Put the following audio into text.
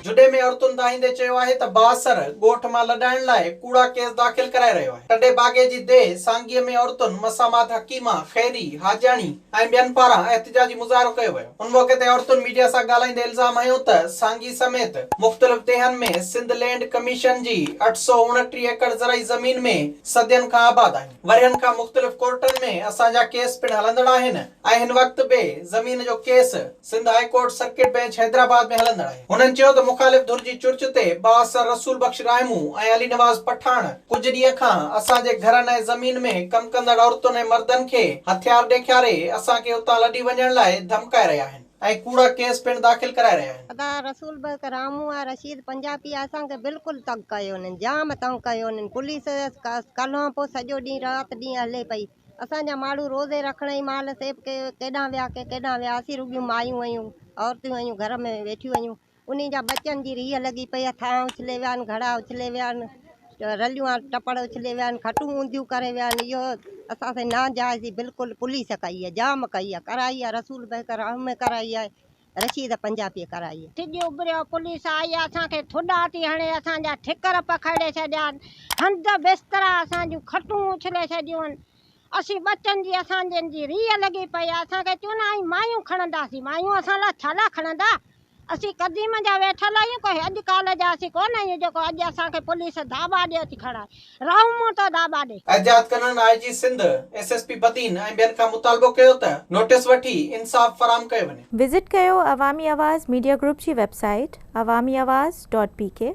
جھڏي ۾ عورتن دانهيندي چيو آهي ته بااثر ڳوٺ مان لڏائڻ لاء ڪوڙا ڪيس داخل ڪرائي رهيو آهي. ٽنڊي باگي جي ديهه سانگيء ۾ عورتن مسامات حڪيمه خيري حاجياڻي ۽ ٻين پاران احتجاجي مظاهرو ڪيو ويو. ان موقعي تي عورتن ميڊيا سان ڳالهائيندي الزام هنيو ته سانگي سميت مختلف ديهن ۾ سنڌ لينڊ ڪميشن جي اٺ سؤ اڻٽيهه ايڪڙ زرعي زمين ۾ صدين کان آباد آهن. ورهين کان مختلف ڪورٽن ۾ اسان جا ڪيس پڻ هلندڙ آهن ۽ هن وقت به زمين جو case Sindh high court circuit bench Hyderabad ۾ هلندڙ آهي. هنن چيو ته مخالف ڌر جي چرچ تي بااثر رسول بخش راهمون ۽ علي نواز پٺاڻ ڪجهه ڏينهن کان اسان جي گهرن ۽ زمين ۾ ڪم ڪندڙ عورتن ۽ مردن کي هٿيار ڏيکاري اسان کي اتان لڏي وڃڻ لاء ڌمڪائي رهيا آهن. ۽ ڪوڙا ڪيس پڻ داخل ڪرائي رهيا آهن. ادا رسول بيگ رامون ۽ رشيد پنجابي اسان کي بلڪل تنگ ڪيو انهن جام تنگ ڪيو انهن پوليس ڪلهون پو سڄو ڏينهن رات ڏينهن هلي پئي اسان جا ماڻهو روزي رکڻ جي مهل سيب ڪي ڪيڏانهن ويا ڪي ڪيڏانهن ويا اسين رڳيون مايون هيون عورتون هيون گهر ۾ ويٺيون هيون انهن جا ٻچن جي ريهه لڳي پئي، هٿان اڇلي ويا آهن، گهڙا اڇلي ويا آهن، رليون آهن، ٽپڙ اڇلي ويا آهن، کٽون اونڌيون ڪري ويا آهن، اهو اسان سان ناجائز بلڪل پوليس ڪئي آهي، جام ڪئي آهي، ڪرائي آهي، رسول بيگ الرحمي ڪرائي آهي، رشيد پنجابيء ڪرائي آهي. سج اڀريو، پوليس آئي آهي، اسان کي ٿڏا ٿي هڻي، اسان جا ٺڪر پکيڙي ڇڏيا آهن، هنڌ بسترا، اسان جون کٽون اڇلي ڇڏيون آهن، اسين ٻچن جي اسان جن جي ريء لڳي پئي آهي اسان کي چون آئي مايون کڻنداسين مايون اسان لاء ڇا لاء کڻندا اسين قديم جا ويٺل آهيون ڪو اڄ ڪالهه جا اسين ڪون آهيون جيڪو اڄ اسان کي پوليس ڌاٻا ڏي اچ کڻائي رئون مون تو ڌاٻا ڏي. احتجاج ڪندڙن I G Sindh, S S P Badin ۽ ٻين کان مطالبو ڪيو ته نوٽيس وٺي انصاف فراهم ڪيو وڃي. وزٽ ڪيو عوامي آواز ميڊيا گروپ جي website Awami Awaz dot P ڪي.